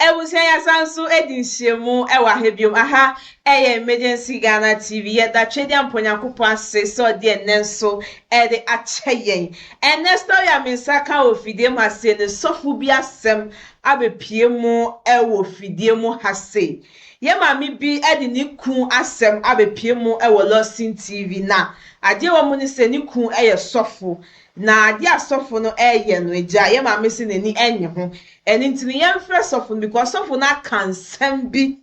Abusua yɛasan so adi nhyiamu wɔ aha biom. Aha yɛ Emergency Ghana TV. Yɛda Twedeampo Nyankopɔn ase sɛ ɔde ɛnnɛ nso de akyɛ yɛn. Ɛnnɛ story a me nsa ka wɔ fidie mu ha sei no, sɔfo bi asɛm abɛpue mu wɔ fidie mu ha sei. Yɛn maame bi de ne kunu asɛm abɛpue mu wɔ Lawson TV. Na adeɛ ɛwɔ mu ne sɛ ne kunu yɛ sɔfo. Na ade a sɔfo no reyɛ no, agya, yɛn maame se n'ani nnye ho. Ɛno nti no, yɛmfrɛ sɔfo no because sɔfo no aka nsɛm bi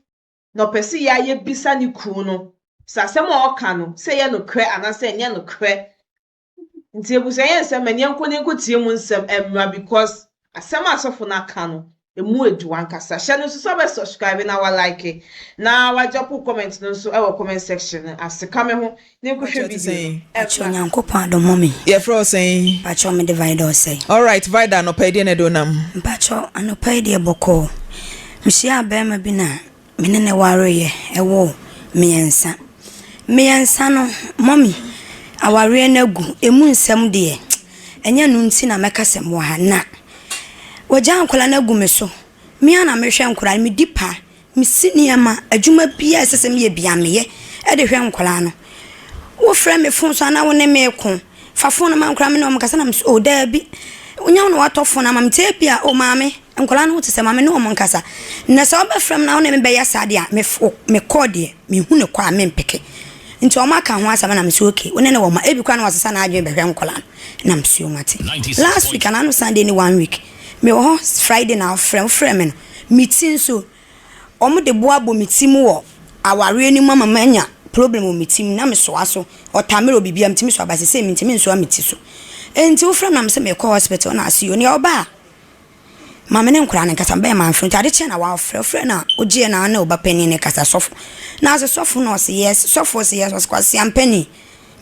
na ɔpɛ sɛ yɛa yɛbisa ne kunu no sɛ asɛm a ɔreka no, sɛ ɛyɛ nokorɛ anaasɛ ɛnyɛ nokorɛ. Nti abusua yɛ nsɛm, ɛneɛ nkɔ ne nkɔtie mu nsɛm mmra because asɛm a sɔfo no aka no, Emu edu ankasa. Hyɛ no nso sɛ wobɛ subscribe na wa like na wa drop wo comment no nso wɔ comment section no ase. Ka me ho na nkɔhwɛ video no. Pakyɛ Onyankopɔn adom mo me. Yɛfrɛ wo sɛn? Pakyɛ mede Vida ɔsɛe. Alright Vida anɔpa yi deɛ na ɛde wo nam? Mpakyɛ anɔpa yi deɛ bɔkɔɔ. Mehyiaa bɛɛma bi na. Me ne no wareeɛ, yɛwoo mmiɛnsa. Mmiɛnsa no, mummy, awareɛ no agu. Ɛmu nsɛm deɛ, ɛnyɛ ɛno nti na mɛka sɛ mewɔ ha na. Wɔagyaa nkwadaa no agu me so. Me ara na mehwɛ nkwadaa no, medi pa, mesi nneɛma, adwuma biara a ɛsɛ sɛ meyɛ biara meyɛ de hwɛ nkwadaa no. Wofrɛ me fon so a na wo ne me reko. Fa fon no ma nkwadaa me ne wɔn nkasa na me so oh daabi wonya wo na watɔ fon ama me nti ebia oh maame nkwadaa no ho te sɛ maame ne wɔn nkasa na sɛ wɔbɛfrɛ me na wɔn na me bɛyɛ saa deɛ a me fo me kɔɔ deɛ mehu ne kɔ a me mpeke nti wɔn aka ho asɛm na me so okay wɔn ne wɔn ma ebi kora na wɔsesa n'adwene bɛhwɛ nkwadaa no na me so mate last week anaa no Sunday ne one week me wɔ hɔ Friday na wɔfrɛ wɔfrɛ me no me ti nso Wɔde bo abɔ me ti mu wɔ awareɛ no mu ama manya problem wɔ me ti mu na mesoa so. Ɔtamere wɔ biribiara metumi soa but seesei mentumi nsoa me ti so. Enti wofrɛ me a mese merekɔ hospital na ase onii a ɔba a ma me ne nkwadaa no nkasa mebɛyɛ manfrɛ nti ade kyee na wafrɛ wofrɛ no a wogyeɛ no a ne ɔba panin no kasa sɔfo na ɔse sɔfo na ɔse yes sɔfo se yes ɔse Kwasi Ampanin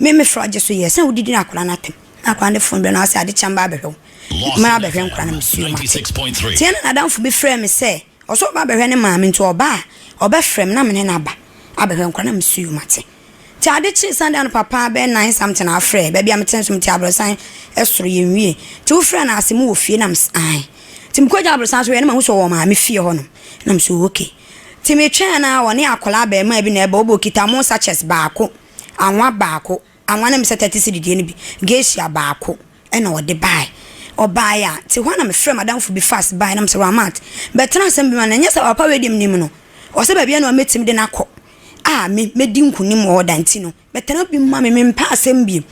me mefrɛ ɔgye so yes na wodidi no akwadaa no atɛm na akwadaa no de phone brɛ no a ɔse ade kye a mɛba abɛhwɛ wo. mabɛhwɛ nkwadaa no mesuo mate nti ɛna n'adamfo bi frɛɛ me sɛ ɔsɛ ɔba abɛhwɛ ne maame nti ɔba a ɔbɛfrɛ me na mene no aba abɛhwɛ nkwadaa na mesuo mate nti ade kyee Sunday anɔpa paa bɛyɛ nine something afrɛ baabi a mete nso mete abrɔsan ɛsoro yɛn wie nti wofrɛ no ase mu wɔ fie na mese ae nti mekɔ gya abrɔsan so yɛ na mahu sɛ ɔwɔ maame fie hɔ nom na mese ɔwɔ okay nti metwɛn na ɔne akwadaa abɛɛmaa bi na ɛbɛ ɔbɔ kita mo sachets baako anwa baako Anwa na mesɛ thirty cedi deɛ no bi geisha baako ɛna ɔde bae ɔbae a te hɔ a na mefrɛ madamfo bi fast bae na mesɛ Rahmat bɛtena asɛm bi mu ana ɛnyɛ sɛ papa wei deɛ menim no ɔsɛ baabi a na mɛtumi de no akɔ a me mɛdi nkunim wɔ hɔ da nti no bɛtena bi mma me mempɛ asɛm bio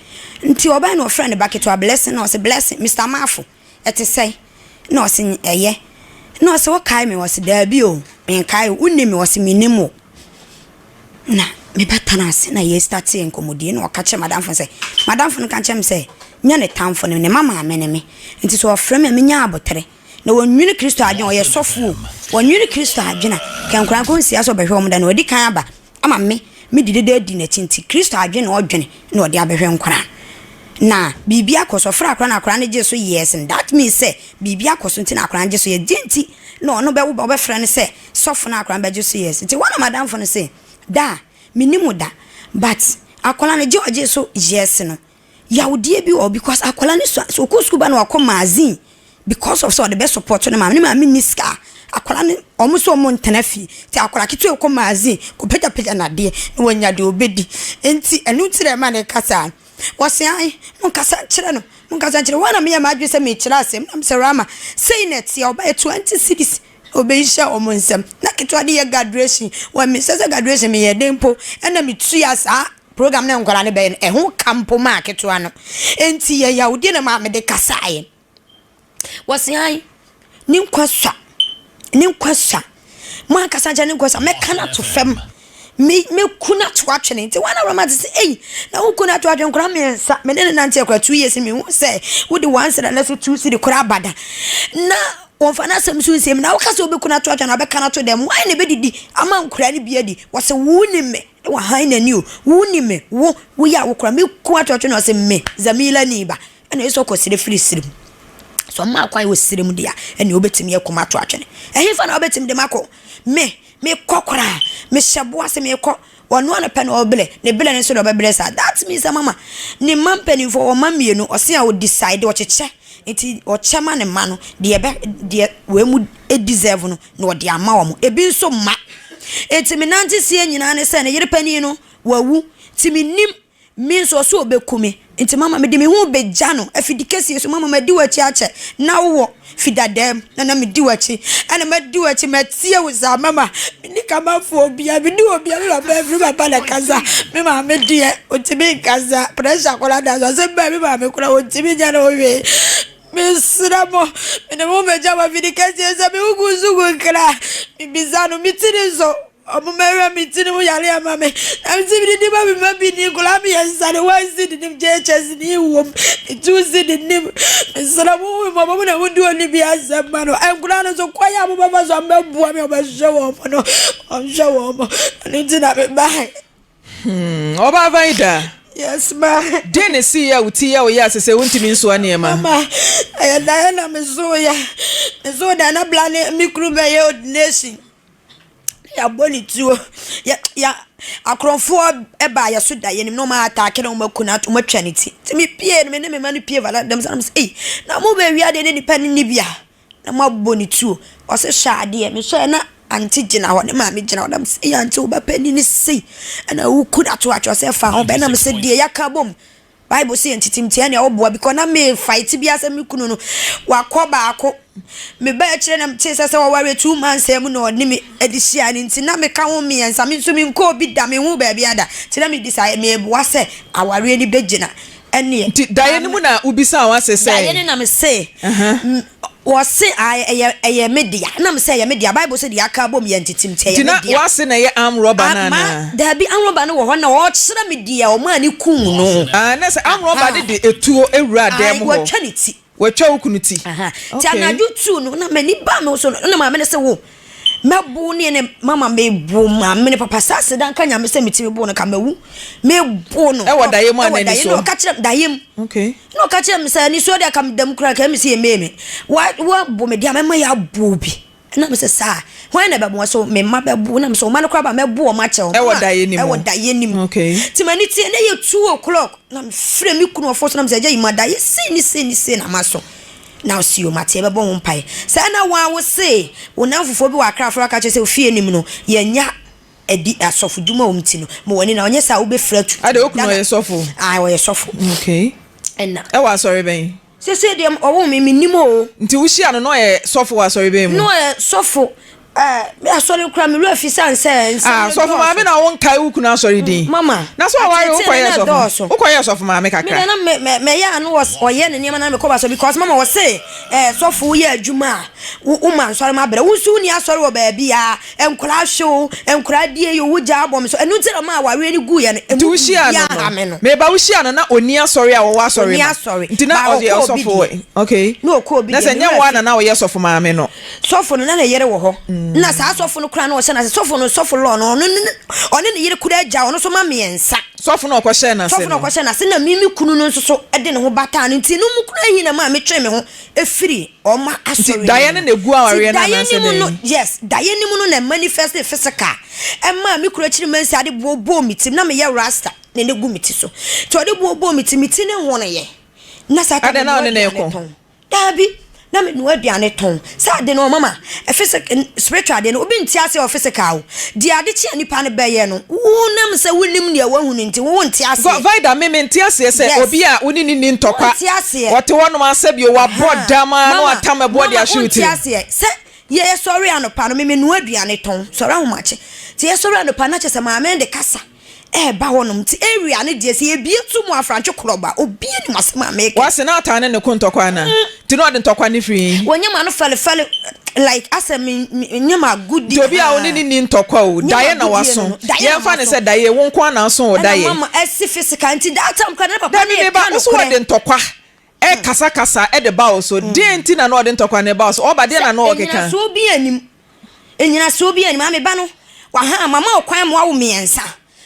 nti ɔbae na ɔfrɛ ne ba ketewa Blessing na ɔse Blessing Mister Marfo Ɛte sɛn? Ɛnna ɔse, Ɛyɛ. Ɛnna ɔse, Wokae me? Ɔse, Daabi o, menkae wo. Wonim me? Ɔse, Menim wo. Ɛnna me ba tenaa ase na yɛsitatee nkɔmmɔdie. Ɛnna ɔka kyerɛɛ m'adamfo no sɛ, M'adamfo no ka kyerɛɛ me sɛ, Nyɛ ne tamfo, ne mma maame ne me. Enti sɛ ɔfrɛ me a, menya aboterɛ. Na wɔnnwene Kristo adwene a, ɔyɛ sɔfo o, wɔnnwene Kristo adwene a, nka nkwadaa nkɔnsia sɛ ɔbɛhwɛ wɔn da no, wadi kan aba. ama me me di dede adi n'akyi nti Kristo adwene na ɔdwene na ɔde abɛhwɛ nkwadaa no na biribi akɔ so ɔfrɛ akwadaa no akwadaa no gye so yes no that means sɛ biribi akɔ so nti na akwadaa no gye so yes deɛ nti na ɔno bɛwo ba ɔbɛfrɛ no sɛ sɔfo na akwadaa no bɛgye so yes nti wɔn a madamfo no se da a menim da but akwadaa no gye ɔgye so yes no yawdeɛ bi wɔhɔ because akwadaa no sua sɛ ɔkɔ sukuu ba na wakɔ magazine because of sɛ ɔde bɛ support ne maame ne maame nni sika akwadaa no wɔn sɛ wɔn ntena fie nti akwadaa ketewa ɔkɔ magazine kɔpagyapagya nadeɛ na wanya deɛ ɔbɛdi nti ɛno nti na ɛma no ka saa wɔse ae monkasa nkyerɛ no monkasa nkyerɛ wɔn na meyɛ m'adwene sɛ mekyerɛ asɛm na mesɛ Rama sei na ɛteɛ ɔbaeɛ 20 cedis Obi nhyɛ wɔn nsam. Na ketewa de yɛ graduation. Wɔ me sɛ sɛ graduation me yɛ den mpo ɛna me tua saa program na nkwadaa no bɛyɛ no ɛho ka mpo maa ketewa no. Ɛnti yɛ yawudie na maame de kasaa yɛ. Wɔ se an ne nkwa sua ne nkwa sua mo ankasa nkyɛn ne nkwa sua mɛka no ato fam. me me kun ato atwene nti wɔn awurama te sɛ eyi na wo kun ato atwene nkora mmiɛnsa me ne ne nante akora two years me hu sɛ wode one sida na so two sidi kora abada na wɔnfa n'asɛm so nsɛm na woka sɛ wobɛkun ato atwene na wobɛka no ato dɛm wɔn na ɛbɛdidi ama nkora no bi adi wɔsɛ wo ni me na wahan n'ani o wo ni me wo woyɛ a wokora me kun ato atwene ɔsɛ me zamila ni ba ɛna ɛsɛ ɔkɔ sere firi sere mu sɛ ɔma akwan wɔ sere mu deɛ ɛna wobɛtumi akuma ato atwene ɛhefa na wobɛtumi de makɔ me Mekɔ koraa, mehyɛ boa se mekɔ. Ɔno ara na pɛ na ɔbrɛ, ne brɛ no so na ɔbɛbrɛ saa. That means sɛ mama ne mma mpanimfoɔ, ɔwɔ mma mmienu, ɔse a ɔdecide, ɔkyekyɛ, nti ɔkyɛ ma ne mma no, deɛ ɛbɛ, deɛ wei mu deserve no na ɔde ama wɔn. Ebi nso mma. Nti me nante seɛ nyinaa ne sɛ ne yere panin no, wawu, nti mennim Me nso, ɔse ɔbɛku me. Nti mama mede me ho rebɛgya no afidi kɛseɛ so. Mama madi w'akyi akyɛ. Na wowɔ fi dada mu na na medi w'akyi. Ɛna madi w'akyi matie wo saa. Mama, menni Kamafoɔ obiara. Menni obiara. Me papa afiri m'aba na ɛkasa. Me maame deɛ, ɔntumi nkasa. Pressure koraa da so. Asɛm bɛn a me maame koraa ɔntumi nyɛ ne ho hwee. Mesrɛ mo, mede me ho bɛgya mo afidi kɛseɛ sɛ me ho gu nso gu nkra. Mebisa no, me tiri nso. Ɔmo mɛwura me ti no ho yare ama me na me nso medidi ma me mma bi ni nkwadaa mmiɛnsa no one seed nim JHS ni wom me two seed nim mesrɛ mo ho mmɔbɔ mo na mo di oni bi asɛm ma no nkwadaa no so kwan a mo bɛfa so a mo bɛboa me ɔbɛhwɛ wɔn mo no ɔnhwɛ wɔn mo ɛno nti na me ba he. Hmm, ɔbaa Vaida. Yes, ma. Deɛ na ɛsii a wo ti yɛ wo yɛ ase sɛ wontumi nsoa nneɛma? Mama, ɛyɛ daeɛ na mesoo yɛ. Mesoo daeɛ na bla ne me kuru bɛyɛ ordination. Yɛabɔ ne tuo. Yɛ yɛ akorɔmfoɔ baa yɛn so da. Yɛnim na wɔataake no, wɔaku no, wɔatu wɔatwa ne ti. Nti mepuee no, me ne me mma no pue varaa dam sɛ nam sɛ ei, na mobɛwie adeɛ na nnipa no nni bi a? Na moabɔ ne tuo. Ɔse hyɛ adeɛ. Mehwɛɛ na aunty gyina hɔ, ne maame gyina hɔ. Nam sɛ ei aunty wo ba panin no sei na woku no ato atwa. Ɔse ɛfa ho bɛ. Nam sɛ deɛ yɛaka abom. Bible se yɛ ntetem tia nea ɔboa because na me fight bia sɛ me kunu no wakɔ baako me ba akyire na mete sɛ sɛ ɔware two months a mu na ɔne me ɛde hyia ne nti na me ka ho mmiɛnsa me nso me nkɔ obi da me ho baabi ada nti na me bisa meboa sɛ awareɛ ni bɛgyina ɛneɛ Nti daeɛ no mu na wobisaa wo ase sɛ? daeɛ no na me se Wɔse ae ɛyɛ ɛyɛ me dea na mese ɛyɛ me dea bible se deɛ aka abom yɛ ntete mti ɛyɛ Gyina me dea. wase na ɛyɛ arm rubber no Ama anaa? daabi arm rubber no wɔ hɔ na ɔkyerɛ me deɛ ɔmaa no kuu no. Ae na sɛ arm rubber no de etuo wuraa dan Ae mu hɔ. watwa ne ti. Watwa wo kunu ti. Ahaa nti Okay. anadwo two no na m'ani baa me ho so no na maame no se wo Mɛbow ne ne mama mebow maame ne papa saa aseda nka nyame sɛ metumi bow no ka mawu mebow no ɛwɔ daeɛ mu ana ɛwɔ na ɔka kyerɛ daeɛ mu okay na ɔka kyerɛ me sɛ nisuo deɛ ka me dam kura ka me sɛ yɛmee me wabɔ me deɛ mɛma yɛ aboɔ bi na me sɛ saa hwan na bɛboa so me mma bɛbo na me sɛ ɔma no kora ba mɛbo ɔma kyɛ ɔma ɛwɔ daeɛ nim ɛwɔ daeɛ nim okay ti ma ne tie na yɛ two o'clock na me frɛ me kunu ɔfo so na me sɛ gya yi ma daeɛ sei ne sei ne sei na ma so Now see o, mate yɛbɛbɔ ho mpae. Sɛ ɛna wo ara wose wo nnamfofoɔ bi wɔ Accra afrɛ wo aka kyerɛ sɛ ofie anim no yɛnnya adi asɔfo dwuma a wɔn ti no ma w'ani na ɔnyɛ saa a wobɛfiri atu. Adɛn, wo kunu ɔyɛ sɔfo? Ae ɔyɛ sɔfo. Okay. Ɛna. Ɛwɔ asɔre bɛn? Seesei deɛ ɔwoo me mennim o. Nti wo hyia no na ɔyɛ sɔfo wɔ asɔre bɛn mu? Na ɔyɛ sɔfo. me asɔre kura me wura fi san sɛ nsɛm ah, sɔfo maame na wo nkae wo kunu asɔre din mm, mama na so awari wo kɔyɛ sɔfo wo kɔyɛ sɔfo maame kakra me na me me me ya ano ɔyɛ ne nneɛma na me kɔ ba so because mama wɔ se eh sɔfo yɛ adwuma a wo ma nsɔre ma brɛ wo nso ni asɔre wɔ baabi a nkora hwew nkora die yo wo gya abom so ɛno ti na ma awari ni gu yɛ no emu ya ha me no me ba wo hyia no na oni asɔre a wɔwɔ asɔre ma nti na ɔyɛ sɔfo okay na sɛ nyɛ wo na na ɔyɛ sɔfo maame no Sɔfo no, na ne yere wɔ hɔ. Nna saa sɔfo no koraa na ɔhyɛ no ase. Sɔfo no, sɔfo Lɔɔ no, ɔno ne, ɔne ne yere koraa gya, ɔno nso ma mmiɛnsa. Sɔfo no a ɔkɔhyɛɛ no ase no. Sɔfo no a ɔkɔhyɛɛ no ase na me, me kunu no nso so de ne ho bataa no nti, ɛno mu koraa hi na ɛmaa metwee me ho firii wɔn asɔre no mu. Nti daeɛ no na ɛgu awareɛ no anaasɛ dɛn? Nti daeɛ no mu no, yes, daeɛ no mu no na ɛmanifɛstee physical. Ɛmaa me kunu akyiri mansi ade boɔ bɔɔ me ti, na meyɛ rasta, na na ɛgu me ti so. Nti ɔde boɔ bɔɔ me ti, me ti no honoeɛ. Na saa time no, mmoa aduane tɔn. Dabi, na me noa aduane tɔn. Saa ade no ɔma ma ɛfese ken spiritual ade no obi nte ase wɔ physical o. Deɛ ade kye a nipa no bɛyɛ no wo nam sɛ wo nim nea wahu no nti wo wo nte aseɛ. Vida, me me nte aseɛ sɛ Yes. obi a wo ne no nni Wo ntɔkwa. nte aseɛ. Ɔte hɔ nom asɛ bio wa bɔ Ahaa. dam aa na Mama, wa tam ɛboɔ de mama, ahwe wo wonte tirim. aseɛ sɛ yɛ sɔre anɔpa no me me noa aduane tɔn. Sɔre ahomakye. Nti yɛ sɔre anɔpa no na kyerɛ sɛ maame no de kasa. ɛɛba hɔ nom nti area no deɛ sɛ yɛbie to mu a frankye korɔbo a obia nim asɛm a meeka. Wɔ se n'ataa ne ne ko ntɔkwa ana nti na ɔde ntɔkwa no firi he? Wɔ nyɛma no fɛle fɛle like asɛ me nyɛma agodie Nti obia wo ne no nni ntɔkwa o Daye na waso yɛnfa no sɛ Daye wo nko ara na aso o Daye. Ɛna mama ɛsi physical nti that time koraa na ne papa no yɛ ka nokorɛ. Dabi meba wo se wɔde ntɔkwa rekasakasa de ba wo so. Deɛn nti na na ɔde ntɔkwa no reba wo so? Ɔba deɛn na na ɔrekeka? Sɛ nnyinasoɔ biara nnim, nnyinasoɔ biara nnim, aa me ba no, waha, mama wo kwan ma wawo mmiɛnsa,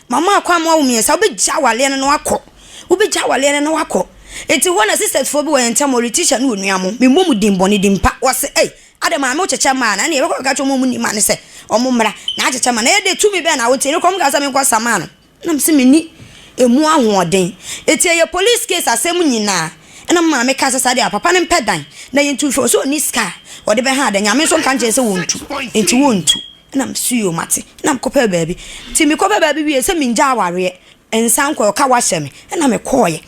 mama wo kwan ma wawo mmiɛnsa, wobɛgya awareɛ no na wakɔ, wobɛgya awareɛ no na wakɔ. Nti hɔ na sisters foɔ bi wɔ yɛn ntam hɔ, Letitia ne onua mo, memmɔ mo din bɔne, din pa, wɔse ei, adɛn maame wokyekyɛ mmaa anaa, ɛnneɛ yɛbɛkɔ akɔka akyerɛ wɔn a wɔnni mma no sɛ wɔmmra na akyekyɛ mma no, ɛyɛ dɛ, tumi bɛn na wote, nokorɛ wɔkaa sɛ menkɔsa mmaa no. Nna mese menni emu ahoɔden. Ntsi ɛyɛ police case asɛm nyina na me maame ka sɛ saa deɛ a papa no mpɛ dan na yɛntu mfiri hɔ sɛ ɔnni sika a ɔde bɛha adan. Nyame nso nka nkyerɛɛ sɛ wɔntu enti wɔntu. Nna mese yoo mate. Nna mekɔpɛɛ baabi. Ntsi mekɔpɛɛ baabi wieeɛ sɛ mengya awareɛ nsan nkɔɛ ɔka wahyɛ me. Nna mekɔɔeɛ.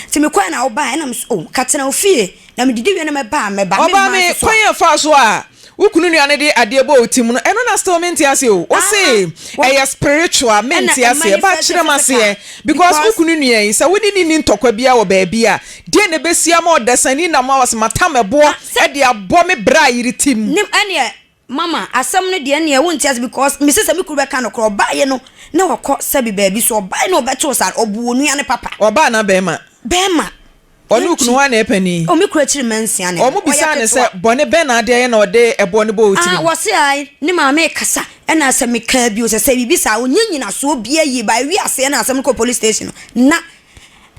Ntsi mekɔɛ na wobaeɛ nna mese oh nka tena wo fie na medidi wie na mɛba a mɛba. Ɔbaa me kwan a ɛfaa so a wo kunu nua no de adeɛ bɔ wo ti mu no ɛno na still mente aseɛ o wo se ɛyɛ spiritual mente aseɛ ba kyerɛ m'aseɛ because wo kunu nua yi sɛ wode ne ni ntɔkwa bia wɔ baabi a deɛ na ɛbɛsi ama ɔdasani nam a wɔsɛ matam ɛboɔ de abɔ me bra yere ti mu. Nim ɛneɛ mama asɛm no deɛ neɛ wonte aseɛ because mese sɛ me kunu bɛka nokorɛ ɔbaeɛ no na wakɔ sɛbi baabi so ɔbaeɛ na ɔbɛtoo saa ɔbu onua no papa. Ɔbaa anaa bɛɛma? Bɛɛma. Ɔne okunu hwan na ɛyɛ panin? O me kunu akyiri mma nsia ne no, ɔyɛ ketewa. Wɔbisaa no sɛ, Bɔne bɛn na adeɛ yɛ na ɔde ɛboɔ no bɔɔ wo tirim? Ɔse, Ae, ne maame rekasa, ɛna sɛ mekaa bio sɛ, sɛ biribi saa a, ɔnyɛ nyinasoɔ biaa yie, but ɛwii aseɛ na asɛm no kɔɔ police station no, na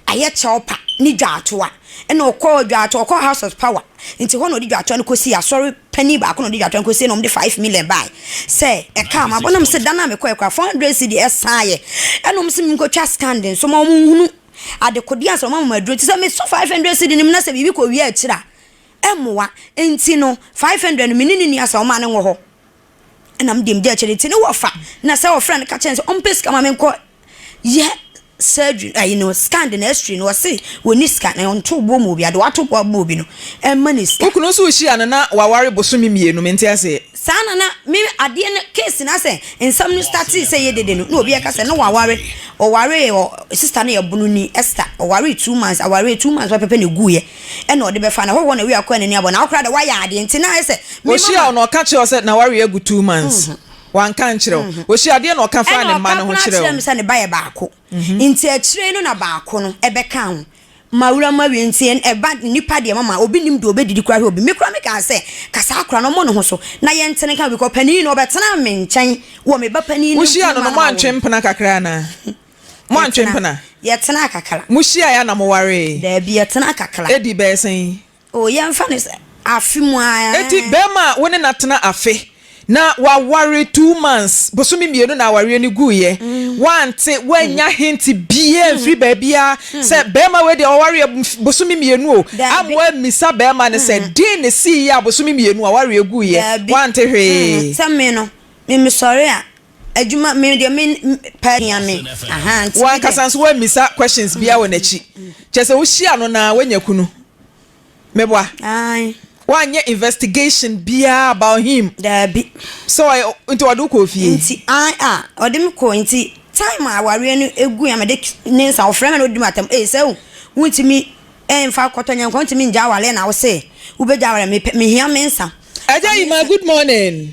ayɛ Chelpa ne Dwatoa, ɛna ɔkɔɔ Dwatoa, ɔkɔɔ House of Power, nti hɔ na ɔde Dwatoa no kɔsiiɛ, Asɔre panin baako na ɔde Dwatoa no kɔsiiɛ na wɔde five million baaɛ sɛ ɛkaa m'abɔ, na mese da no a mekɔeɛ koraa four hundred cedi ɛsaaɛ, ɛna wɔse menkɔtwa stand nso ma wɔnhunu. adekode ansa wɔama mo aduro. Nti sɛ mesɔ 500 cedi no mu na sɛ biribi kɔ wia akyiri a, ɛmmoa. Nti no 500 no me ne ne nua saa ɔmaa no wɔ hɔ na me deɛ megye akyire. Nti ne wɔfa na sɛ wɔfrɛ no ka kyerɛ no sɛ ɔmpɛ sika ma me nkɔ yɛ surgery ayi no scan de na x-ray no ɔse wɔnni sika na ɔnto boɔ ma obi a deɛ wato boɔ ama obi no ɛmma no sika. Wo kunu nso hyia no na waware bosome mmienu, mente aseɛ. Saa na na me adeɛ no case no asɛ nsɛm no startee sɛ yɛ dede no na obi ɛka sɛ na waware ɔwaree ɔ sister no yɛ bononi Esther ɔwaree two months awaree two months pɛpɛpɛ na ɛguuiɛ ɛna ɔde bɛfa na hɔhoɔ na wei akɔ anani abɔ na wo koraa deɛ wayɛ adeɛ nti na ayɛ sɛ me mama Ɔhyia wo na ɔka kyerɛ wo sɛ nawareɛ agu two months wanka nkyerɛ wo Ɔhyia adeɛ na ɔka faa ɛna ne mma ɔka no ho koraa kyerɛ kyerɛɛ wo. me sɛ ne ba yɛ baako. Nti akyire yi no na baako no bɛkaa ho ma wura mu awie nti ɛba nnipa deɛ mama obi nim deɛ ɔbɛdidi koraa hwɛ obi me koraa mekaa sɛ ka saa akora no ɔmmɔ ne ho so na yɛntene nka because panin no ɔbɛtenaa me nkyɛn wɔ me ba panin no Wohyiaa no no moantwe mpena kakra anaa? Moantwe mpena? Yɛtenaa kakra. Mohyiaeɛ a na mowaree? Daabi yɛtenaa kakra. Ɛdii bɛyɛ sɛn? Oh, yɛmfa no sɛ afe mu ara. Enti barima a wo ne no atena afe, na waware two months, bosome mmienu na awareɛ no guiɛ, woante, woannya hint biara amfiri baabiara sɛ barima wei deɛ wawareɛ bosome mmienu o, amma woammisa barima no sɛ deɛn na ɛsiiɛ a bosome mmienu awareɛ guiɛ? Woante hwee. Sɛ me no, me mesɔre a, W'ankasa nso woammisa questions biara wɔ n'akyi. Kyerɛ sɛ wohyia no na woanya kunu. Meboa? Woanyɛ investigation biara about him. Daabi. So ɔyɛ nti ɔde wo kɔɔ fie? Nti ae a ɔde me kɔɔ nti time a awareɛ no ɛgu a mede ne nsa ɔfrɛ me na ɔdi m'atam ee sɛ wontumi ɛmfa kɔtɔ nyɛ nkɔ wontumi ngya awareɛ na wose wobɛgya awareɛ mepɛ mehia me nsa. Agya Yima good morning.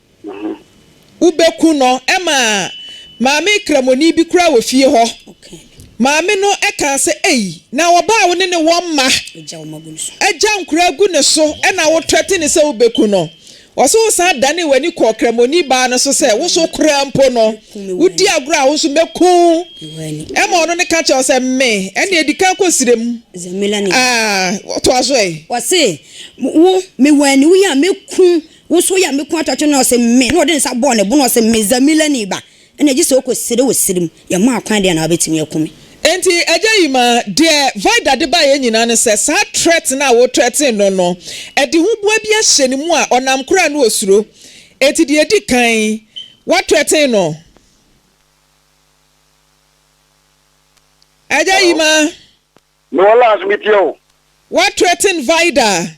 no ho. Wobeku no. Ɛma maame Kramoni bi koraa wɔ fie hɔ. Maame no kaa sɛ, Ei, na ɔbaa a wo ne ne wɔ mma agya nkora agu ne so na wotrɛte no sɛ wubeku no? Ɔse, Wosan danee w'ani kɔɔ Kramoni baa no so sɛ, Wo nso koraa mpo no, wudi agorɔ a, wo nso mɛku wo. Ɛma ɔno no ka kyerɛɛ wo sɛ, Me? Ɛnneɛ di kan kɔ srɛ mu. Ah, toa so ɛ. Ɔse, Wo, mewɔ aniwu yi a, mɛku Wo nso woyɛ a me kɔn atwatwe no na ɔse me, na ɔde ne nsa bɔɔ ne bo na ɔse me Zamilani ba, ɛna gye sɛ wokɔsere wɔ sere mu, yɛmma akwan deɛ na wabɛtumi aku me. Enti agya yi ma deɛ Vida de baeɛ nyinaa ne sɛ saa threat no a wo threaten no no, ɛde ho boa bi ahyɛ ne mu a ɔnam koraa no ɔsuro. Enti deɛ ɛdi kan, wa threaten no. Agya yi ma. Mewɔ lines metie wo. Wa threaten Vida.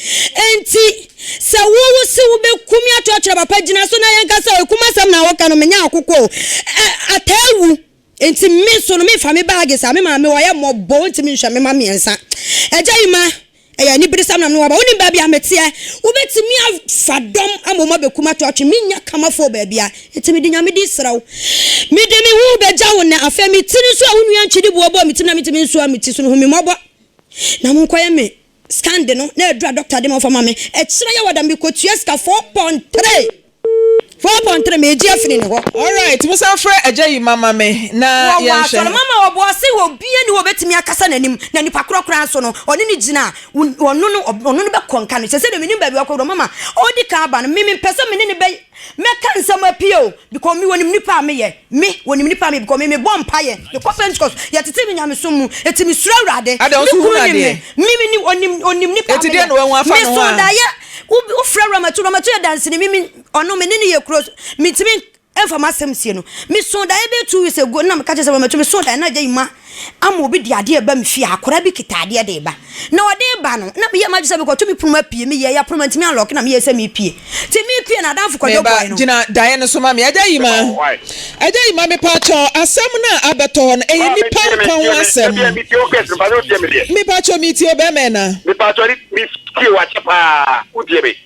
Enti, sɛ wo wo se wo bɛku me ato akyerɛ papa gyina so na yɛnka sɛ ɛkum asɛm na woka no menyɛ akokɔ o ɛ ataa wu enti me nso no mefa me baage saa me maame wayɛ mmɔbɔ ɔntumi nhwɛ me ma mmiɛnsa agya yi ma ɛyɛ aniberesɛm na me waba wonim baabi a meteɛ wobɛtumi afa dɔm ama wɔn abɛkum ato atwe menyɛ kamafoɔ baabi a enti mede nyame din serɛ wo mede me ho bɛgya wo nɛ afei me tiri nso a wo nua ntwidi boɔ bɔɔ me tiri na metumi nsoa me ti so no hu me mmɔbɔ na monkɔyɛ me Scan de no na aduru a doctor de ma ɔfa ma me ɛkyerɛ yɛ wɔ da me kɔ tua sika four pon three four pon three me gye afini ne hɔ. Alright mo san frɛ agya yi ma ma me na yɛnhwɛ. Wɔ wɔ asɔre ma ma ɔboa ɔse obia ni hɔ obetumi akasa nanim na nipa korɔ koraa nso no ɔne no gyina a ɔno no ɔno no bɛkɔ nka no sese deɛ menim baabi ɔkɔ wɔ ma ma ɔdi kan aba no me me mpɛ sɛ me ne no bɛ Mɛka nsɛm apie o, because me wɔnim nipa a meyɛ, me wɔnim nipa a meyɛ because me me bɔ mpaeɛ, me kɔ pentecost, yɛ tete me nyamesom mu, eti me suro awurade, Ada, me nso kunu hunu nim me, adeɛ. me me nim ɔnim ɔnim nipa a Eti deɛ meyɛ, na wahu afa me ne ho so a? daeɛ, wo wo frɛ Ramatu, Ramatu yɛ danseni, me me ɔno me ne no yɛ kuro, me ntumi nfa m'asɛm nsie no, me so daeɛ bɛyɛ two weeks ago, ɛna me ka kyerɛ sɛ Ramatu me so daeɛ na agya yi ma. ama obi de adeɛ reba me fie a, akwadaa bi kita adeɛ de reba. Na ɔde reba no, na meyɛ m'adwene sɛ mekɔto me pono mu apue. Meyɛɛ yɛ pono mantumi anlɔke na meyɛɛ sɛ merepue. Nti mepue no, adamfo Kwadwo Meba, bɔe no. gyina daeɛ no so ma me. Agya Yima, Meba, why? Agya Yima, mepaakyɛw, asɛm no a abɛtɔ hɔ no, ɛyɛ Ah, nnipa metie, nkwa ho metie, me, asɛm. metie, metie wo case no, mpatsɛ wotie me deɛ. Mepaakyɛw, metie o, bɛɛma ɛna. Mepatsɔ, me, metie wo akyɛ paa, wotie me.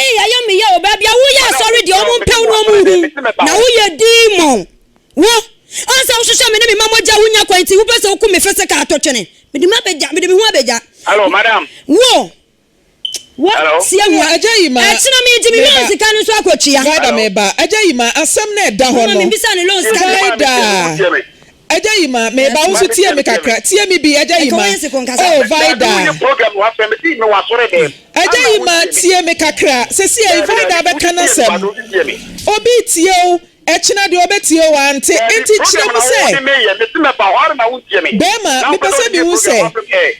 Eii ayɛ me ya o baabi a woyɛ asɔre deɛ ɔmo mpɛ wo na ɔmo nhu na woyɛ demon wo ɔn sɛ wohwehwɛ me ne me ma mogya wonya kwan nti wopɛ sɛ woku me physical atotwene mede ma bɛgya mede me ho abɛgya Hello, madam. wo wo Hello? si ahu Hello, agya yi ma- ɛkyena megye me meba. loan sika no nso akɔtua Vida meba. Agya yi ma asɛm na ɛda hɔ Mama no. mebisa ne loan sika Vida. Mama, me tie me, wo tie me. Agya Yima, meba, wo nso tie me kakra, tie me bi, Agya Yima, oh, Vida. Agya Yima, tie me kakra, sesiei Vida bɛka n'asɛm, obi retie wo, ɛkyena deɛ ɔbɛtie wo, ante, enti kyerɛ mu sɛ, bɛɛma, mepɛ sɛ mehu sɛ,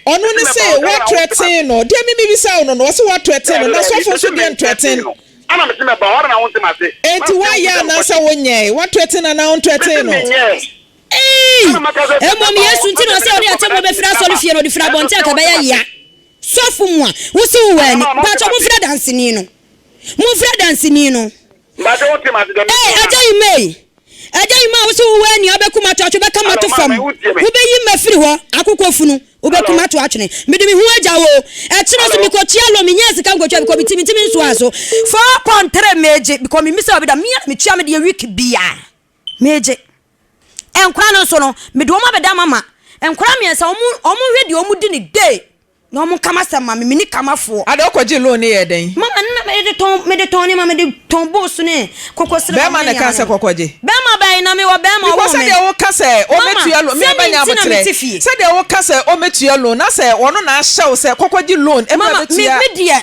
ɔno ne se woatrɛten no, deɛ me mebisa wo no no, ɔse woatrɛten no, na sɔfo nso deɛ ntrɛten no. Ana mese mɛba hɔ na wonte m'ase? Enti woayɛ anaasɛ wonyɛe? Woato atin anaa wonto atin no? Mese menyɛe. Ei! Ana mɛka sɛ sɛ Mmom mɛba hɔ Yesu nti na ɔsɛ ɔne atemmuo bɛfiri asɔrefie no, ɔde firi abɔnten a anka ɛbɛyɛ yea. Sɔfo mua, wo se wowɔ ani. Mpakyɛ momfrɛ danseni no. Momfrɛ danseni no. Mpakyɛ wonte m'ase deɛ mese Ei, no na. Agya Imei! Ɛdɛn maa wo sɛ wowɔ ania wobɛkum ato atwe bɛka mato fam? Wobɛyi mafiri hɔ akokɔ funu wobɛkum ato atwene mede me ho agya wo ɛkyerɛ so mekɔ tua loan menyaa sika nkɔtwa bikɔ meti mentimi nsoa so four pon three megye bikɔ memisa obi da mea na metua me deɛ week bia megye nkora no nso no mede wɔn abɛda mama nkora miɛnsa wɔn wɔn hwɛ deɛ wɔn di ne day Na wɔn ka m'asɛm ma me, me ni ka m'afoɔ. Ada ɔkɔgyee loan no yɛɛ dɛn? Mama no na mede tɔn mede tɔn nneɛma mede tɔn boosu ne kokosrɛ fam ne nneɛma no. Bɛɛma na ɛkaa sɛ kɔkɔgye. Bɛɛma bɛn na mewɔ bɛɛma ɔwoo me. Because sɛdeɛ wo ka sɛ ɔmɛtua loan mea bɛnya aboterɛ sɛdeɛ wo ka sɛ ɔmɛtua loan na sɛ ɔno na ahyɛw sɛ kɔkɔgye loan ɛma bɛtua. Mama me me deɛ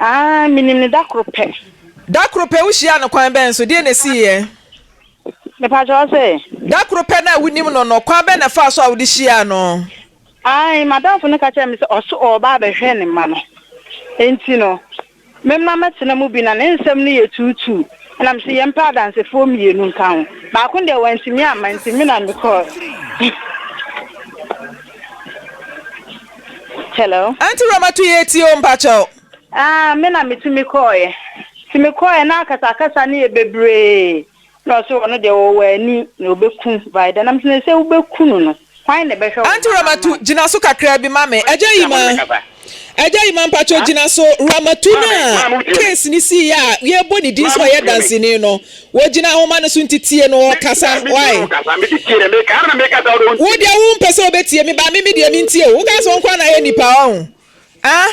Ah, minim no da koro pɛ. Da koro pɛ? Wuhyiaa no kwan bɛn so? Deɛn na esiiɛ? Mepakyɛ wo se? Da koro pɛ no a wunim no no, kwan bɛn na ɛfaa so a wode hyiaa no? Ae, m'adamfo no ka kyerɛɛ me sɛ ɔse ɔreba abɛhwɛ ne mma no. Enti no, me mma mmɛtena mu bi, na ne nsɛm no yɛ tuutuu. Ɛnna mese yɛmpɛ adansefoɔ mmienu nka ho. Baako deɛ wantumi amma, enti me na mekɔeɛ. Hello. Aunty Ramatu yɛ tie o mpakyɛw. Ah me na me tumi kɔɔɛ. Ti me kɔɔɛ na akasa akasa no yɛ bebree na ɔse ɔno deɛ ɔwɔ ani na ɔbɛku Vaida nam sɛ na sɛ wobɛku no no hwan na ɛbɛhwɛ wo Aunty Ramatu gyina so kakraa bi ma me. Agya Yima Agya Yima mpakyɛw gyina so Ramatu no a case no siiɛ a yɛbɔ ne din sɛ ɔyɛ danseni no Wogyina nwoma no so nti tie no, ɔkasa, why? Wo deɛ wo mpɛ sɛ ɔbɛtie me, but me me deɛ me ntie wo, wokaa sɛ wo nkoa na ayɛ nipa, wahu? Ah?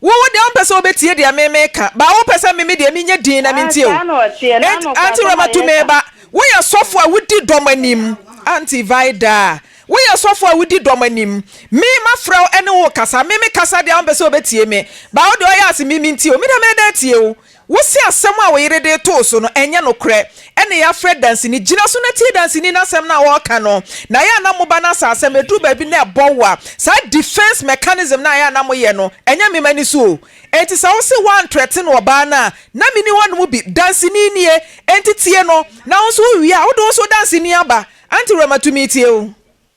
Wo wo deɛ wo mpɛ sɛ wobɛtie deɛ me me ka, but wo pɛ sɛ me me deɛ me nyɛ dinn na me ntie wo. Enti Auntie Rema tu me ba, wo yɛ sɔfo a wo di dɔm anim, Auntie Vida, wo yɛ sɔfo a wo di dɔm anim, me ma frɛ wo ɛne wo kasa, me me kasa deɛ wo mpɛ sɛ wobɛtie me, but wo deɛ ɔyɛ ase me me ntie wo, me deɛ me da atie wo, Wose asɛm a wo yere de too so no ɛnyɛ nokorɛ, ɛna yɛafrɛ danseni. Gyina so na tie danseni no asɛm no a ɔreka no. Na ɛyɛ a na moba no asasɛm, ɛduru baabi na ɛbɔ wo a, saa defense mechanism no a ɛyɛ a na moyɛ no, ɛnyɛ me m'ani so o. Enti sɛ wose woantrɛten ɔbaa no a, na menni hɔ nom bi. Danseni nie, enti tie no, na wo nso wowie a, wode wo nso danseni aba. Auntie Rema, tumi atie wo.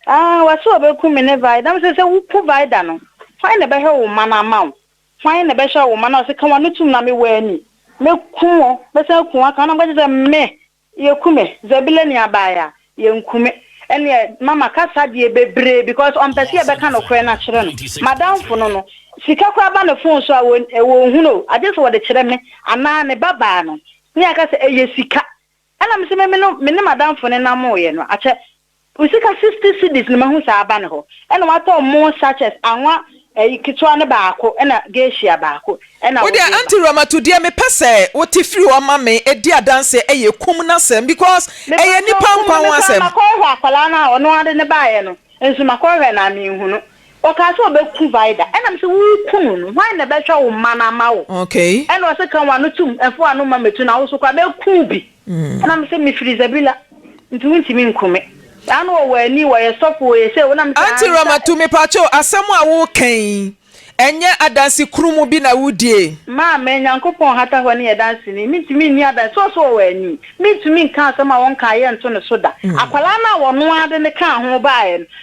Ah, wase ɔbɛku me ne Vida. Na mese sɛ woku Vida no, hwan na ɛbɛhwɛ wo mma no ama wo? Hwan na bɛhyɛ wo ma na ɔse ka w'ano tum na me wɔ ani mɛku wo mɛsan aku wo aka na mobɛgye sɛ me yɛku me Zabila ni abaeɛ a yɛnku me ɛneɛ mama kasa deɛ bebree because ɔmpɛ sɛ yɛbɛka nokorɛ no akyerɛ no madamfo no no sika koraa ba ne phone so a wɔnhunu o agye sɛ wɔde kyerɛ me anaa ne babaa no ne yɛaka sɛ ɛyɛ sika Ɛna me se me no me ne m'adamfo no namoeɛ no akyɛ me sika sixty cedis no mahu saa aba ne hɔ ɛna watɔ mmoo sachets anwa ɛyi ketewa no baako ɛna gesia baako ɛna Wodeɛ wode ba. Auntie Ramatu deɛ mepɛ sɛ wote firi hɔ ma me di adanseɛ ɛyɛ kum no asɛm because ɛyɛ Mepakyɛw nipa kum nkwa no ho mekura asɛm. makɔ hwɛ akwadaa no a ɔno ara de no baeɛ no nso makɔ hwɛ no a menhu no. Ɔkaa sɛ ɔbɛku Vida. Ɛna mese, Woreku no no, hwan na ɛbɛhwɛ wo mma no ama wo? Ɛna ɔse, Ka w'ano tom, mfa w'ano mma mmɛtu na wo nso kɔ a, bɛku wo bi. Ɛna mese, Mefiri Zabila, nti wontumi nku me. Saa na ɔwɔ ani, ɔyɛ sɔfo, ɔyɛ sei, na mese, Auntie Ramatu, mepakyɛw, asɛm a woreka yi, ɛnyɛ adanse kurumu bi na wodie? Maa me, Nyankopɔn nhata hɔ ne yɛ danseni, mentumi nni adanse sɛ ɔse ɔwɔ ani. Mentumi nka asɛm a wɔnkaeɛ nto ne so da. Akwadaa no a wɔnoaa de no kaa ho baeɛ no,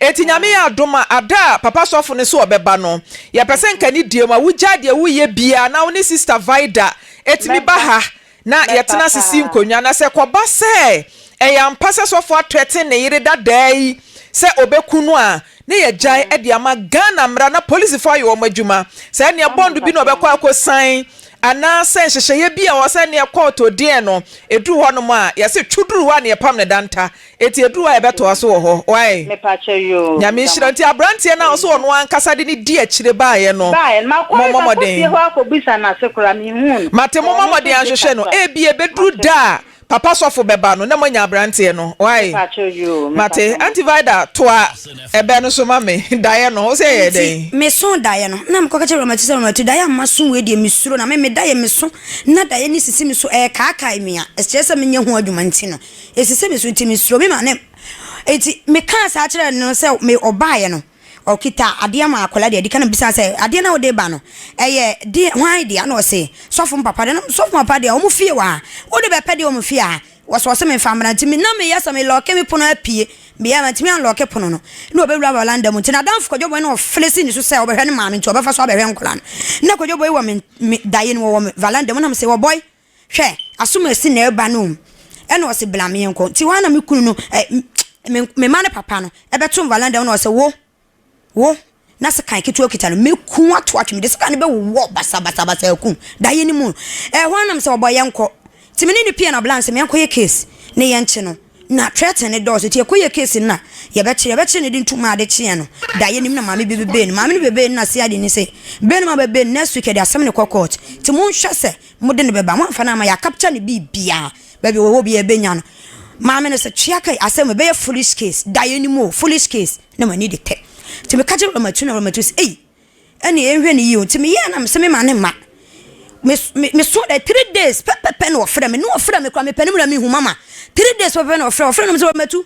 Enti Nyame yɛ adom a ada a Papa Sɔfo no sɛ ɔbɛba no, yɛpɛ sɛ nka ne deɛ mu a wogyae deɛ woreyɛ biara na wo ne Sista Vida tumi ba ha na yɛtena ase si nkonnwa. Na sɛ kɔba sɛ ɛyɛ ampa sɛ Sɔfo atrɛten ne yere dadaa yi sɛ ɔbɛku no a, ne yɛagyae de ama Ghana mmara na polisifo ayɛ wɔn adwuma. Sɛ ɛneɛ bɔnd bi na ɔbɛkɔ akɔsan anaa sɛ nhyehyɛeɛ bi a ɔwɔ sɛ ɛneɛ kɔɔto deɛn no, ɛduru hɔnom a, yɛse twoduru hɔ a na yɛpam no danta. Eti eduru hɔ a yɛbɛtoa so wɔ hɔ wai? Nyame nhyira nti abranteɛ no a ɔse ɔno ankasa de ne di akyire baeɛ no mommɔ mmɔden Mate mommɔ mmɔden anhwehwɛ no ebia ɛbɛduru da a papa sɔfo bɛba no na moanya abranteɛ no wai? Mate Auntie Vida toa ɛbɛ no so ma me daeɛ no wose ɛyɛɛ Enti dɛn? me so daeɛ no na mekɔka kyerɛ Ramatu sɛ Ramatu daeɛ a mma so wei deɛ mesuro na me me daeɛ me so na daeɛ no sisi me so ɛɛkaakae me a ɛkyerɛ sɛ menyɛ ho adwuma nti no Esisi me so nti me suro me maame nti me kaa saa kyerɛ no sɛ me ɔbaayɛ no ɔkita adeɛ maa akwadaa deɛ ɛdika na me bisaa sɛ adeɛ na ɔde ba no ɛyɛ deɛ hwan deɛ na ɔse sɔfo mo papa deɛ na sɔfo mo papa deɛ ɔmo fie wɔ ha wode bɛpɛ deɛ ɔmo fie a wɔsɛ ɔse me nfa mmra nti me na me yɛ sɛ me lɔke me pono apue me yɛ ma ntumi anlɔke pono no na ɔbɛ wura valanda mu nti na danfo kwadwo bɔn na ɔfele si ne so sɛ ɔbɛhwɛ ne maame nti ɔbɛfa so abɛhwɛ nkwadaa no na kwadwo bɔn wɔ me daye no wɔ valanda mu na me se wɔ bɔy. Hwɛ, aso masi nɛr ba no mu na ɔse bla me nkɔ, ntsi hɔ a na me kun no eh, me mba ne papa no bɛto mvala no dɛm na ɔse wo, wo, na sekan ketsewa okitsa no, meku wo ato atwe, medze sekan no bɛwowɔ basabasabasa aku wo, daeɛ no mu no, eh, hɔ a na mese ɔbɔ yɛnkɔ, ntsi me ne no pue na ɔbla no se menkɔyɛ case ne yɛnkye no. Na threaten no dɔɔso nti ɛkɔ yɛ case no na yɛbɛkyere yɛbɛkyere no de ntu maa ade kyeɛ no da yɛnim na maame bi bɛbɛɛ no maame no bɛbɛɛ no na CID no se bɛɛ no ma bɛbɛɛ no next week yɛde asɛm no kɔ court nti monhwɛ sɛ mode no bɛba moamfa no amma yɛ capture no biribiaa baabi ɔwɔ biaa yɛbɛnya no maame no se twea kai asɛm wei bɛyɛ foolish case da yɛnim oo foolish case na m'ani de tɛ nti meka kyerɛ Ramatu na Ramatu se ei. ɛnneɛ yɛnhwɛ no yie o. Nti meyɛɛ na mesɛ mema no mma. Mes me mesɔɔ dɛ three days pɛpɛpɛ na ɔfrɛ me, na ɔfrɛ me koraa mepɛ ne mu na mehu mama. Three days pɛpɛpɛ na ɔfrɛ, ɔfrɛ na mesɛ matu.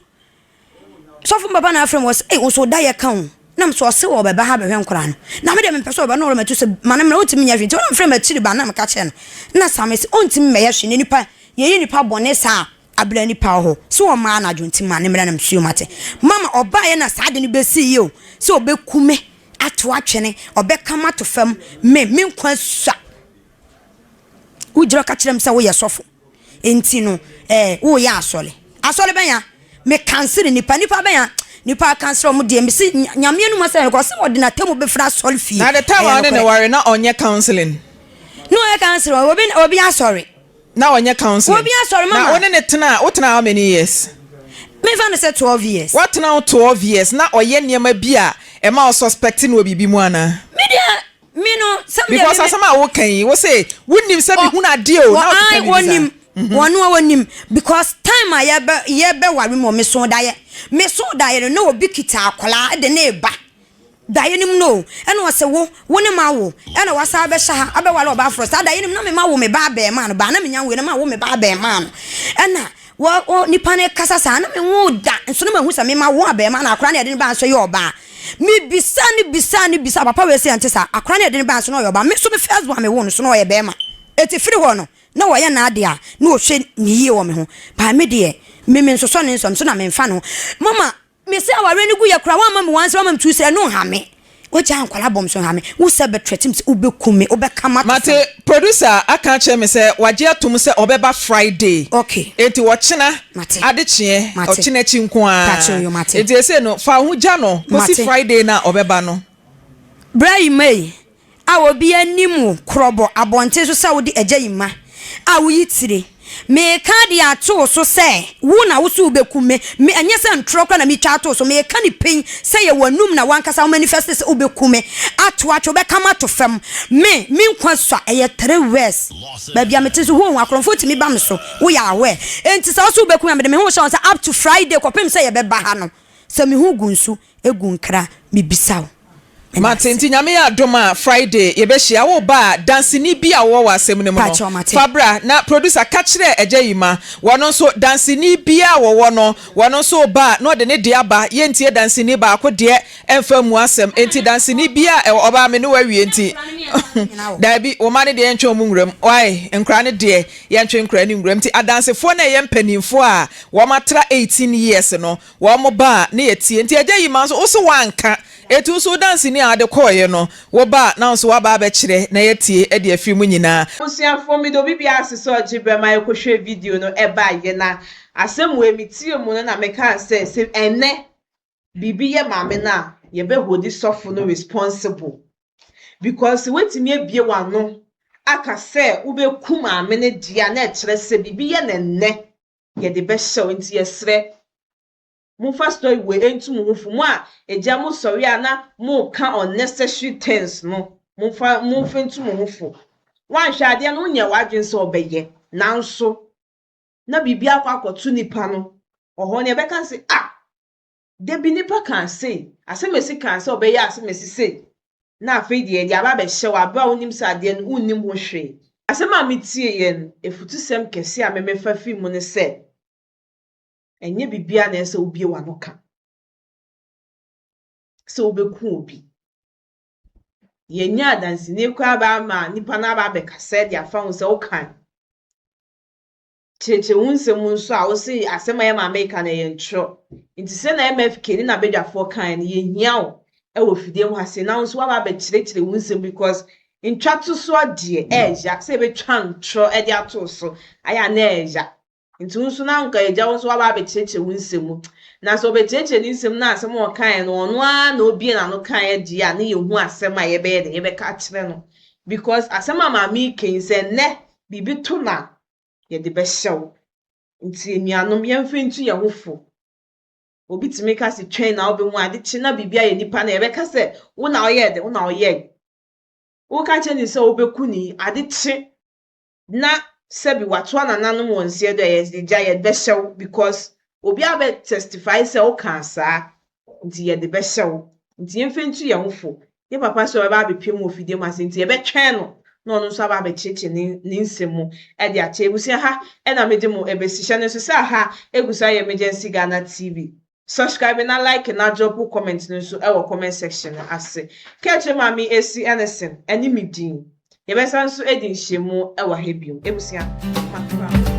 Sɔfo papa na afrɛ me ɔsɛ, ei wo nso wo da yɛ ka o. Na mesɛ ɔse ɔbɛba ha bɛhwɛ nkwadaa no. Na me deɛ mempɛ sɛ ɔbɛba na ɔrematu sɛ ma no mmra ɔntumi nyɛ hwee. Nti ɔna mefrɛ me akyiri ba na meka kyerɛ no. Na Sam se ɔntumi mmɛyɛ hwee na nipa yɛyɛ nipa bɔne saa a. Aberɛ ani paw hɔ sɛ ɔmaa no adwonte maa ne mmerɛ nam suo mu ate. Mama ɔbaeɛ na saa ade no bɛsiiɛ o, sɛ ɔbɛku me, ato atwene, ɔbɛka me ato fam, me, me nkwa sua. Wogyina ka kyerɛ me sɛ woyɛ sɔfo, enti no eh, woreyɛ asɔre. Asɔre bɛn a? Me kansere nnipa, nnipa bɛn a? Nnipa akansere wɔn deɛ, me se Nyame anum asɛm ɛkɔ, ɔse ɔde n'atemmu bɛfiri asɔre fie. Na the time a ɔne no ware na ɔnyɛ counseling. Na ɔyɛ counseling, obi, obi asɔre. Na ɔnyɛ counseling. Obi asɔre mama. Na wo ne no tena a, wo tena how many years? Me nfa no sɛ twelve years. Wa tena wo twelve years na ɔyɛ nneɛma bi a ɛma wo suspect no wɔ biribi mu anaa? Me deɛ me no sɛ me deɛ me. Because asɛm a wo ka yi wo se wo nim sɛ me hunu adeɛ o na wo keka biribi saa. Wɔnim wɔn no a wɔnim because time a yɛ bɛ yɛ bɛ ware mu wɔ me so daeɛ me so daeɛ no na obi kita akwadaa de ne ba. Daeɛ no mu no o, ɛna ɔse wo, wo ne m'awo, ɛna wasan abɛhyɛ ha abɛware ɔbaa forɔ, saa daeɛ no mu na me ma wo me ba abɛɛmaa no, baa na menya nwoeɛ na ma wo me ba abɛɛmaa no, ɛna wɔ, wɔ, nipa no rekasa saa na me nwoo da, nso na mahu sɛ me ma wo abɛɛmaa no, akora no a yɛde no baa nso yɛ ɔbaa. Me bisaa no bisaa no bisaa, papa wei se ɛnte saa, akora no a yɛde no baa nso na ɔyɛ ɔbaa, me nso me first born a me woo no nso na ɔyɛ bɛɛma, eti firi hɔ no na ɔyɛ n'adeɛ a na ɔhwɛ no yie wɔ me ho, baa me deɛ me mensosɔ ne nsɔm so na menfa ne ho, mama Me sɛ awareɛ no gu yɛ koraa woamma me wansɛ woamma me tu srɛ no nha me wagyaa nkwadaa bɔ me so nha me wo sɛ bɛ threaten me sɛ wobɛku me wobɛka mato fam. Mate producer aka akyerɛ me sɛ wagye atom sɛ ɔbɛba Friday Ok enti ɔkyena mate adekyeɛ mate ɔkyena akyi nko ara pakyɛw yo mate. enti ɛsei no fa wo ho gya no kɔsi Mate. Friday no a ɔbɛba no. Bra yi mma yi. A Obiara nnim wo korɔbɔ abɔnten so sɛ wode agya yi mma a woyi tire. Mereka de ato wo so sɛ wo na wo so wobɛkum me. Me, ɛnyɛ sɛ ntorɔ koraa na metwa atoo so. Mereka no pɛn sɛ yɛ w'anum na w'ankasa wo manifɛste sɛ wobɛku me, ato atwe, wobɛka m'ato fam. Me, me nkwa sua ɛyɛ three words. Baabi a mete nso, hoo ho, akorɔmfoɔ tumi ba me so. Woyɛ aware. Enti sɛ wo so wobɛku me a, mede me ho rehyɛ wo nsa up to Friday kɔpem sɛ yɛbɛba ha no. Sɛ me ho gu nso. Egu nkra mebisa wo. Mate nti nyame yɛ adom a Friday yɛbɛhyia wo ba a danseni bi a wowɔ wɔ asɛm no mu no fa bra na producer ka kyerɛ agya yi ma wɔno nso danseni bi a wɔwɔ no wɔno nso ba a na ɔde ne deɛ aba yɛntie danseni baako deɛ ɛmfa mmu asɛm enti danseni bi a ɛwɔ ɔbaa me ne wawie nti daabi wo ma ne deɛ yɛntwe wɔn nwuram wae nkora ne deɛ yɛntwe nkora ne nwuram nti adansefoɔ na ɛyɛ mpanimfoɔ a wɔn atra 18 years no Wɔn ba a ne yɛ teɛ nti agya yi ma nso wose woanka etu nso wodanseni a wode kɔɔeɛ no wo ba a na nso waba abɛkyerɛ na yɛatie ɛde afiri mu nyinaa. Abusuafoɔ mede obi biara ase sɛ ɔgye berɛ ma yɛkɔhwɛɛ video no baeɛ na asɛm wei metiee mu no na mekaa sɛ sɛ ɛnnɛ biribi yɛ maame no a yɛbɛ hodi sɔfo no responsible because sɛ woatumi abue w'ano aka sɛ wobɛku maame no deɛ a na ɛkyerɛ sɛ biribi yɛ no ɛnnɛ yɛde bɛhyɛ wo nti yɛsrɛ momfa story wei ntu mo ho fo mo a agya mo sɔre a na moka unnecessary things no momfa momfa ntu mo ho fo woanhwɛ adeɛ no wonyɛ w'adwene sɛ ɔbɛyɛ nanso na biribi akɔ akɔto nipa no ɔhɔ no yɛbɛka sɛ ah Da bi nipa kaa se, Asemesi kaa sɛ ɔbɛyɛ asemesi sei, na afei deɛ ɛde aba abɛhyɛ wo bere a wonim sɛ adeɛ no wonnim ho hwee. Asɛm a metieeɛ no, afutusɛm kɛse a memefa fii mu ne sɛ, Ɛnyɛ biribiara na ɛsɛ sɛ wobue w'ano ka sɛ wobɛku obi. Yɛnyaa danseni koraa baa ma nnipa no aba abɛkasa de afa ho sɛ wokae. kyerɛkyerɛ wo nsɛm mu nso a wose asɛm a yɛn maame reka no ɛyɛ ntorɔ. Nti sɛ na MFK ne n'abadwafoɔ kaeɛ no yɛhia wo wɔ fidie mu ha sei na wo nso woaba abɛkyerɛkyerɛ wo nsɛm because ntwatosoɔ deɛ ɛɛya sɛ yɛbɛtwa ntorɔ de ato wo so ayɛ a na ɛɛya. Nti wo nso na anka yɛgya wo nso woaba abɛkyerɛkyerɛ wo nsɛm mu. Na sɛ ɔbɛkyerɛkyerɛ ne nsɛm na asɛm a ɔkaeɛ no ɔno ara na ɔbue n'ano kaeɛ deɛ a na yɛhu asɛm a yɛbɛyɛ dɛn yɛbɛka akyerɛ no because asɛm a maame reka yi sɛ nnɛ biribi to no a yɛde bɛhyɛ wo. Nti anuanom, yɛmfa ntu yɛn ho fo. Obi tumi ka sɛ twɛn na wobɛhu ade kye na biribi ayɛ nipa no yɛbɛka sɛ wo na ɔyɛɛ dɛ, wo na ɔyɛe. Woka kyerɛ ne sɛ wobɛku ne yi, ade kye na sɛbi watoa nananom wɔ nseɛ do a yɛgya yɛde bɛhyɛ wo because obiara bɛ testify sɛ wokaa saa. nti yɛde bɛhyɛ wo. Nti yɛmfa ntu yɛn ho fo. Yɛn papa sɛ ɔbɛba abɛpue mu wɔ fidie mu ase nti yɛbɛtwɛn no na ɔno nso aba abɛkyerɛkyerɛ ne ne nsɛm mu de akyɛ. Abusua ha na mede mo bɛsi. Hyɛ no nso sɛ aha ɛgu so ayɛ Emergency Ghana TV. Subscribe na like na drop wo comment no nso wɔ comment section no ase. Ka kyerɛ Maame Esi Ennison ne me din. Yɛbɛsan nso adi nhyiamu wɔ ha bio. Ebusua, mafra mo.